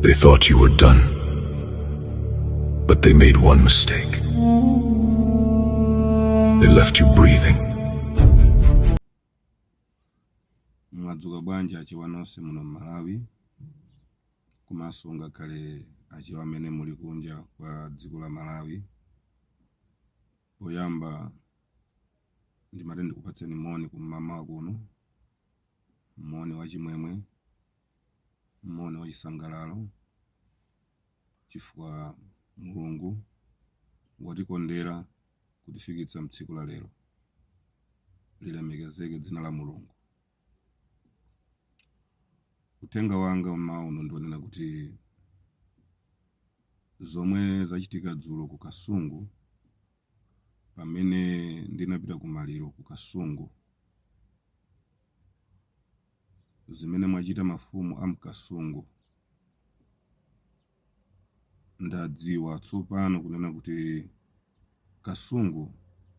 They thought you were done. But they made one mistake. They left you breathing. mwadzuka bwanji achewa nonse muno mmalawi komanso ngakhale achewa amene muli kunja kwa dziko la malawi poyamba ndimati ndikupatseni moni kum'mawa kuno moni wachimwemwe moni wachisangalalo chifukwa mulungu watikondera kutifikitsa mtsiku la lero lilemekezeke dzina la mulungu uthenga wanga mmawa uno ndionena kuti zomwe zachitika dzulo ku kasungu pamene ndinapita ku maliro ku kasungu zimene mwachita mafumu a mkasungu ndadziwa tsopano kunena kuti kasungu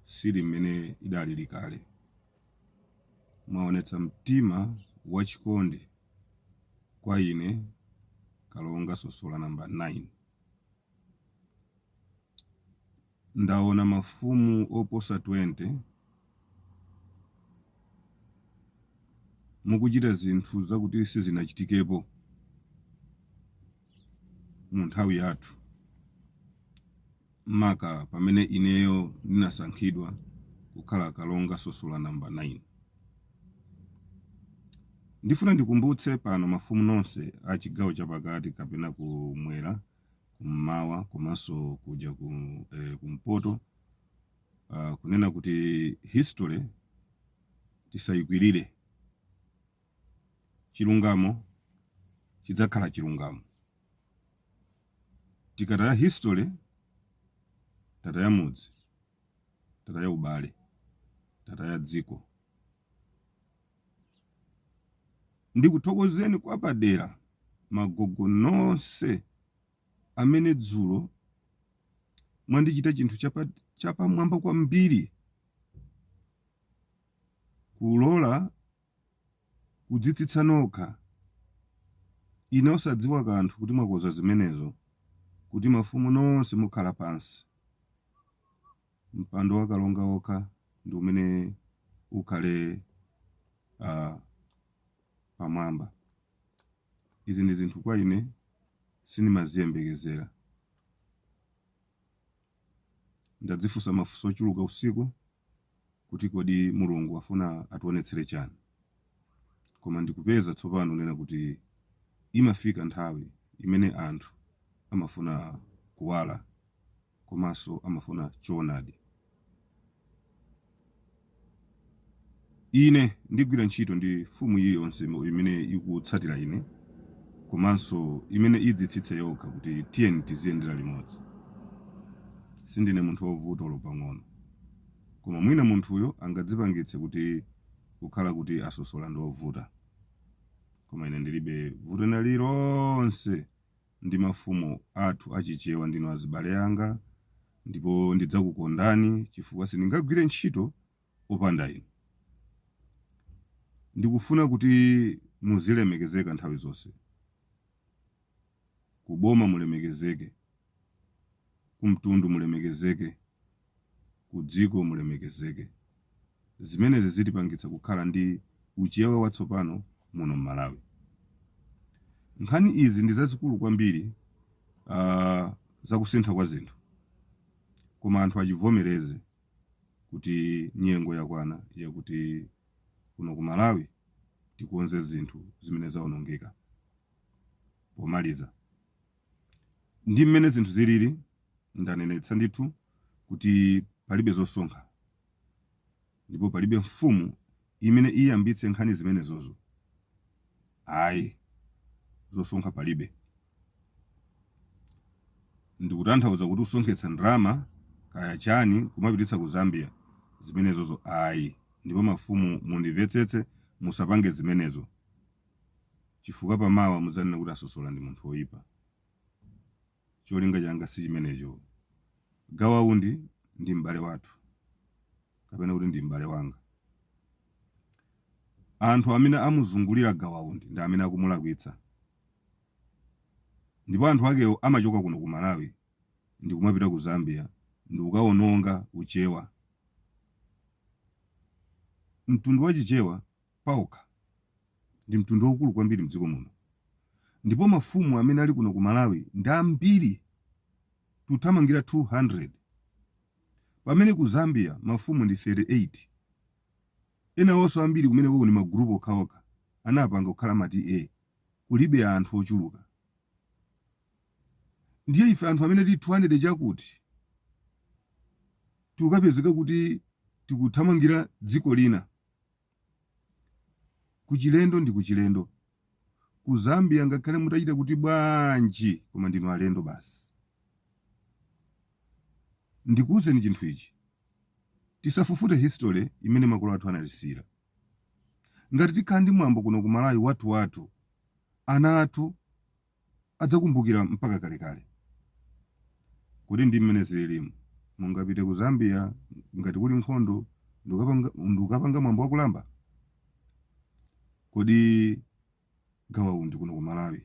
sili mmene idalili kale mwaonetsa mtima wachikondi kwa ine kalonga sosola namba 9 Ndaona mafumu oposa 20 mukuchita zinthu zakuti sizinachitikepo mu nthawi yathu, maka pamene ineyo ndinasankhidwa kukhala Kalonga Sosola Number 9. Ndifuna ndikumbutse pano mafumu nonse a chigawo chapakati kapena kumwera kummawa komanso kuja ku, eh, kumpoto uh, kunena kuti history tisayikwirire chilungamo chidzakhala chilungamo tikataya history tataya mudzi tataya ubale tataya dziko Ndikuthokozeni kwapadera magogo nonse amene dzulo mwandichita chinthu chapamwamba kwambiri kulola kudzitsitsa nokha ine osadziwa kanthu kuti mwakonza zimenezo kuti mafumu nonse mukhala pansi. Mpando wa Kalonga wokha ndi umene ukhale pamwamba. Izi ndi zinthu kwa ine sindimaziyembekezera. Ndadzifunsa mafunso ochuluka usiku kuti kodi Mulungu afuna ationetsere chani. Koma ndikupeza tsopano kunena kuti imafika nthawi imene anthu amafuna kuwala. komanso amafuna choonadi. Ine ndigwira ntchito ndi mfumu iliyonse mo- imene ikutsatira ine komanso imene idzitsitse yokha kuti tiyeni tiziyendera limodzi. Sindine munthu wovuta olo pang'ono. Koma mwina munthuyo angadzipangitse kuti kukhala kuti a Sosola ndi ovuta. Koma ine ndilibe vuto lina lililonse ndi mafumu athu a Chichewa ndinu azibale anga ndipo ndidzakukondani chifukwa sindingagwire ntchito opanda inu. Ndikufuna kuti muzilemekezeka nthawi zonse. Ku boma mulemekezeke. Ku mtundu mulemekezeke. kudziko mulemekezeke. Zimenezi zitipangitsa kukhala ndi uChewa watsopano muno m'Malawi. Nkhani izi ndi zazikulu kwambiri aah za kusintha kwa zinthu koma anthu achivomereze kuti nyengo yakwana yakuti kuno ku Malawi tikonze zinthu zimene zaonongeka. Pomaliza, Ndi mmene zinthu zilili, ndanenetsa ndithu kuti palibe zosonkha ndipo palibe mfumu imene iyambitse nkhani zimenezozo ayi, zosonkha palibe. Ndikutanthauza kuti kusonkhetsa ndalama kaya chani kumapititsa ku Zambia, zimenezozo ayi ndipo mafumu mundivetsetse musapange zimenezo. chifukwa pa mawa mudzanena kuti a Sosola ndi munthu oyipa. Cholinga changa sichimenecho. Gawa Undi ndi m'bale wathu kapena kuti ndi m'bale wanga. Anthu amene amuzungulira Gawa Undi ndi amene akumulakwitsa. Ndipo anthu akewo amachoka kuno ku Malawi ndikumapita ku Zambia ndikukawononga uChewa. Mtundu wa Chichewa paokha ndi mtundu waukulu kwambiri mdziko muno ndipo mafumu amene ali kuno ku Malawi ndi ambiri tikuthamangira 200 pamene ku Zambia mafumu ndi 38 enawonso ambiri kumenekoko ndi ma group okhaokha anapanga kukhala ma TA kulibe anthu ochuluka ndiye ife anthu amene tili 200 chakuti tikukapezeka kuti tikuthamangira dziko lina. Kuchilendo ndi kuchilendo. Ku Zambia ngakhale mutachita kuti bwanji koma ndinu alendo basi. Ndikuuzeni chinthu ichi. Tisafufute history imene makolo athu anatisiyira. Ngati tikhala ndi mwambo kuno ku Malawi wathu wathu ana athu adzakumbukira mpaka kalekale. Kodi ndi mmene zililimu? Mungapite ku Zambia ngati kuli nkhondo ndikukapanga ndikukapanga mwambo wa kulamba? Kodi Gawa Undi kuno ku Malawi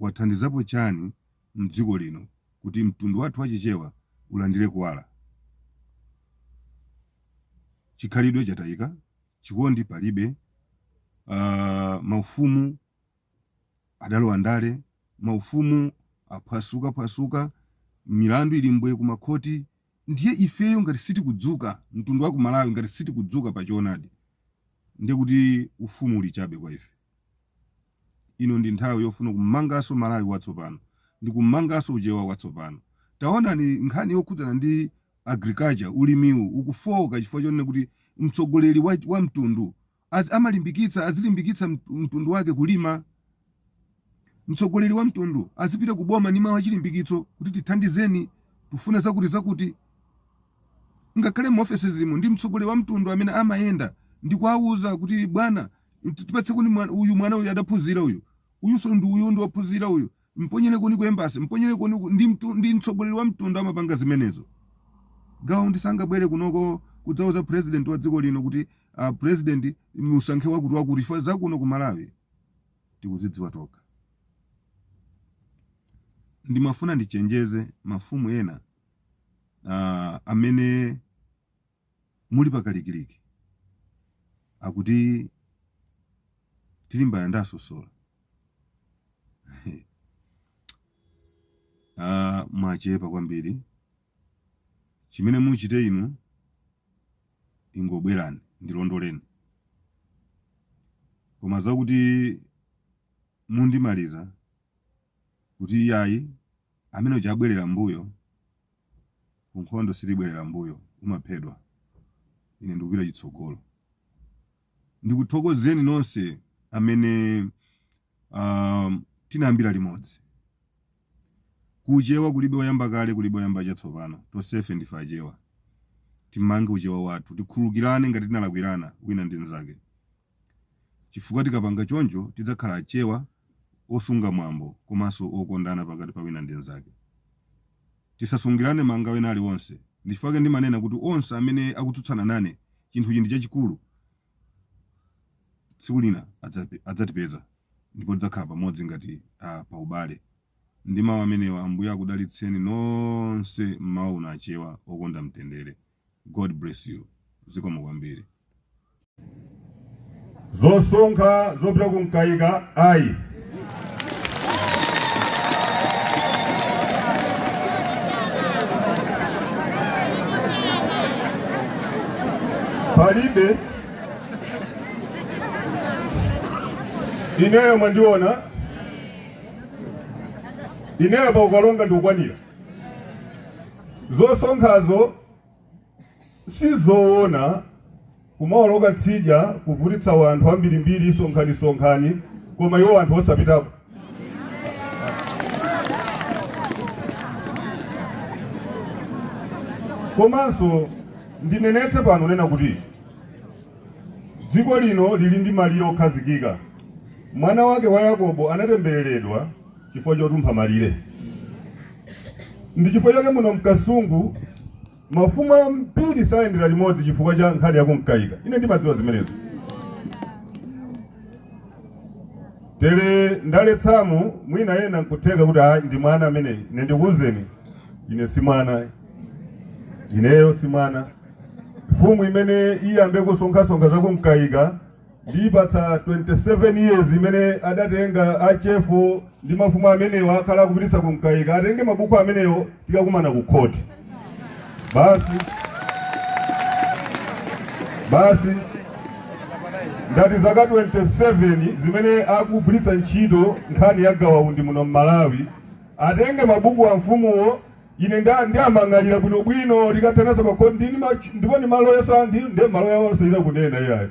wathandizapo chani mdziko lino kuti mtundu wathu wa Chichewa ulandire kuwala? Chikhalidwe chataika, chikondi palibe, aah maufumu Adalowa ndale, maufumu aphwasukaphwasuka, milandu ili mbwe kumakhoti. Ndiye ifeyo ngati sitikudzuka, mtundu wa ku Malawi ngati sitikudzuka pa choonadi, ndiye kuti ufumu uli chabe kwa ife. Ino ndi nthawi yofuna kumanganso Malawi watsopano ndi kumanganso Uchewa watsopano. Taonani nkhani yokhudzana ndi agriculture, ulimiwu ukufooka chifukwa chonena kuti mtsogoleri wa wa mtundu Amalimbikitsa azilimbikitsa mtu- mtundu wake kulima mtsogoleri wa mtundu azipita ku boma ndi mawu achilimbikitso kuti tithandizeni tufuna zakuti zakuti ngakhale mu ofesezimo ndi mtsogoleri wa mtundu amene amayenda ndi kuwauza kuti bwana tipatsenikoni mwa- uyu mwana uyu adaphunzira uyu uyunso ndi uyu ndi wophunzira uyu Mponyerenikoni ku embassy, mponyerenikoni uku ndi mtu, ndi mtsogoleri wa mtundu amapanga zimenezo. Gawa Undi sangabwere kunoko kudzauza president wa dziko lino kuti uh, president musankhe wakuti wakuti chifukwa zakuno ku Malawi tikuzidziwa tokha. Ndimafuna ndichenjeze mafumu ena uh, amene Muli pa kalikiliki akuti tilimbana ndi a Sosola ah, mwachepa kwambiri chimene muchite inu ingobwerani ndilondoleni koma zakuti mundimaliza kuti iyayi amene uja abwerera mbuyo Ku nkhondo sitibwerera m'mbuyo, umaphedwa. Ine ndikupita chitsogolo. Ndikuthokozeni nonse amene um, tinayambira limodzi. Kuchewa kulibe oyamba kale, kulibe oyamba chatsopano. Tonsefe ndife Achewa. Timange uchewa wathu, tikhululukirane ngati tinalakwirana wina ndi mnzake. Chifukwa tikapanga choncho tidzakhala achewa, osunga mwambo komanso okondana pakati pa wina ndi nzake. Tisasungirane mangawa ena ali onse. Ndichifukwa ndimanena kuti onse amene akutsutsana nane chinthu ichi ndi chachikulu tsiku lina adzatipeza ndipo tidzakhala pamodzi ngati a paubale. Ndi mau amenewa Ambuye akudalitseni nonse mmawa uno achewa okonda mtendere. God bless you zikomo kwambiri. zosonkha zopita ku mkaika ayi palibe ineyo mwandiona ineyo pa ukalonga ndikukwanira Zosonkhazo sizoona kumaoloka tsidya kuvutitsa wanthu ambirimbiri sonkhani sonkhani koma iwo anthu osapitako komanso ndinenetse pano kunena kuti dziko lino lili ndi malire okhazikika mwana wake wa yakobo anatembereredwa chifukwa chotumpha malire. Ndi chifukwa chake muno mkasungu mafumu ambiri sayendera limodzi chifukwa cha nkhani yakumkaika. Ine ndimadziwa zimenezo. Tere ndaletsamu mwina ena nkutheka kuti ayi ndi mwana ameneyi. Ine ndikuwuzeni ine si mwana. Ineyo si mwana. Mfumu imene iyambe kusonkhasonkha zakumkaika ndiipatsa 27 years imene adatenga achefu ndi mafumu amenewo akhala akupititsa kumkaika atenge mabuku amenewo tikakumana ku khoti basi basi ngati zaka 27 zimene akugwiritsa ntchito nkhani ya gawaundi muno m'malawi atenge mabuku a mfumuwo Ine nda ndiwamang'alira bwino bwino tikathananso pa court ndi ma ndipo ndi maloya ndi ndi maloya awo sayira kunena iyayi.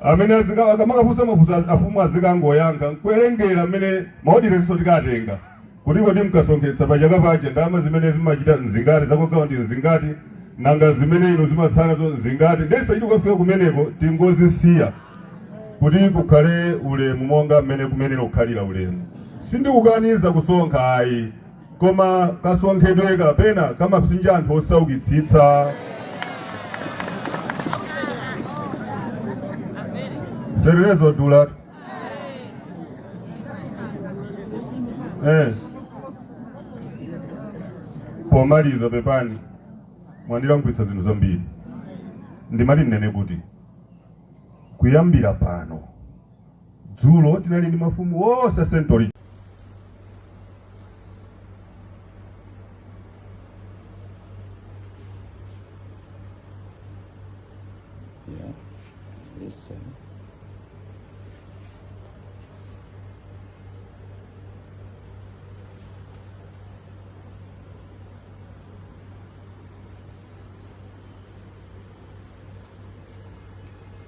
Amene azika akamakafunsa mafunso a- afumu azikangoyankha nkuwerenga amene maodirenso tikatenga. Kuti kodi mkasonkhetsa pa chaka paja ndalama zimene zimachita nzingati za kwa Gawa ndi nzingati nanga zimene inu zimatsalazo nzingati ndesa chiti kukafika kumeneko tingozisiya kuti kukhale ulemu monga mmene kumenelo kukhalira ulemu sindikukaniza kusonkha ayi koma kasonkhedwe ka pena kamapsinja anthu osaukitsitsa zenizenizo ndiyetu eh. pomaliza pepani mwandilankhulitsa zinthu zambiri ndimati ndinene kuti kuyambira pano Dzulo tinali ndi mafumu onse central Yeah, this side.